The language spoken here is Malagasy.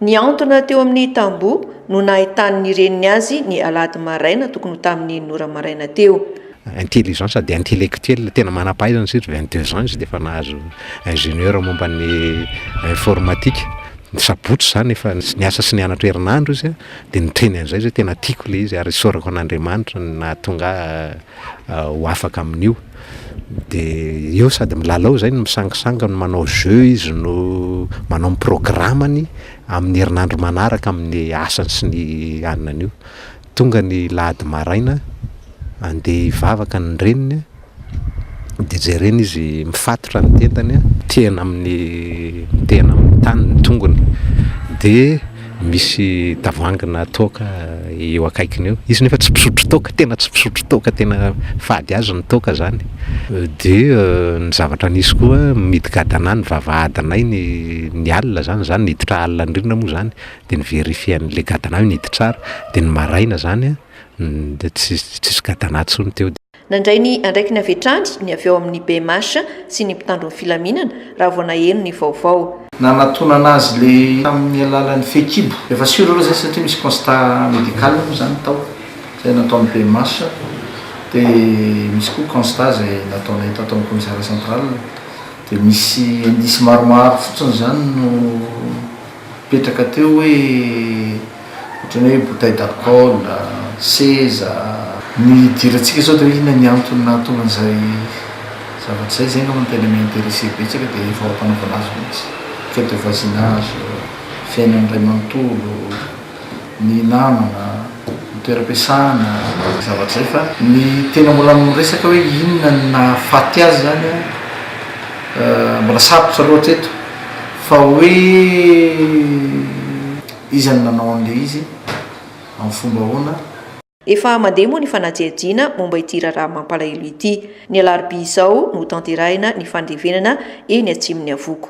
Nihantona teo amin'ny tamboho no nahitan'ny reniny azy ny alahady maraina tokony ho tamin'ny Nora maraina teo. Intelligent sady intellectuel, tena manam-pahaizana satria vingt deux ans izy dia efa nahazo ingénieur momba ny informatique. Ny sabotsy izany efa niasa sy nianatra herinandro izy dia niteny an'izay izy hoe tena tiako ilay izy ary isaorako an'Andriamanitra ny nahatonga ahy ho afaka amin'io. dia eo sady milalao izay no misangisangy no manao jeux izy no manao ny programany amin'ny herinandro manaraka amin'ny asany sy ny anany io, tonga ny lahady maraina andeha hivavaka ny reniny an, dia jereny izy mifatotra ny tendany an, mitehina amin'ny mitehina amin'ny tany ny tongony dia. Misy tavoahangina toaka eo akaikiny eo, izy nefa tsy mpisotro toaka, tena tsy mpisotro toaka, tena fady azy ny toaka zany, dia ny zavatra nisy koa mihidy gadana any vavahadinay ny ny alina zany, zany niditra alina ny rindrina moa zany dia ny verifier anle gadana hoe nihidy tsara, dia ny maraina zany dia tsis tsisy gadana tsony teo. Nandray ny andraikiny avy hatrany ny avy ao amin'ny bmh sy ny mpitandro ny filaminana raha vao naheno ny vaovao. Nanatonana azy le tamin'ny alalan'ny fehikibo. Efa sur aloha zay satria misy constat médical moa zany tao zay nataon'ny bmh de misy koa constat zay nataonay tato amin'ny commissariat central de misy indice maromaro fotsiny zany no mipetraka teo hoe ohatran'ny hoe bouteille d'alcool, seza. Ny hidirantsika izao dia hoe inona ny antony nahatonga an'izay zavatra izay, izay angamba no tena mi-interesser betsaka dia ny fanaovana azy mihitsy, fête de voisinage, fiainan'ny ray manontolo, ny namana, ny toeram-piasana, izay zavatra izay fa ny tena mbola miresaka hoe inona no nahafaty azy izany an, mbola sarotra loatra eto fa hoe. Iza no nanao an'ilay izy? Amin'ny fomba ahoana? Efa mandeha moa ny fanajiajiana momba ity raharaha mampalahelo ity. Ny alarobia izao no hotanterahina ny fandevenana eny Atsimon'ny Avoko.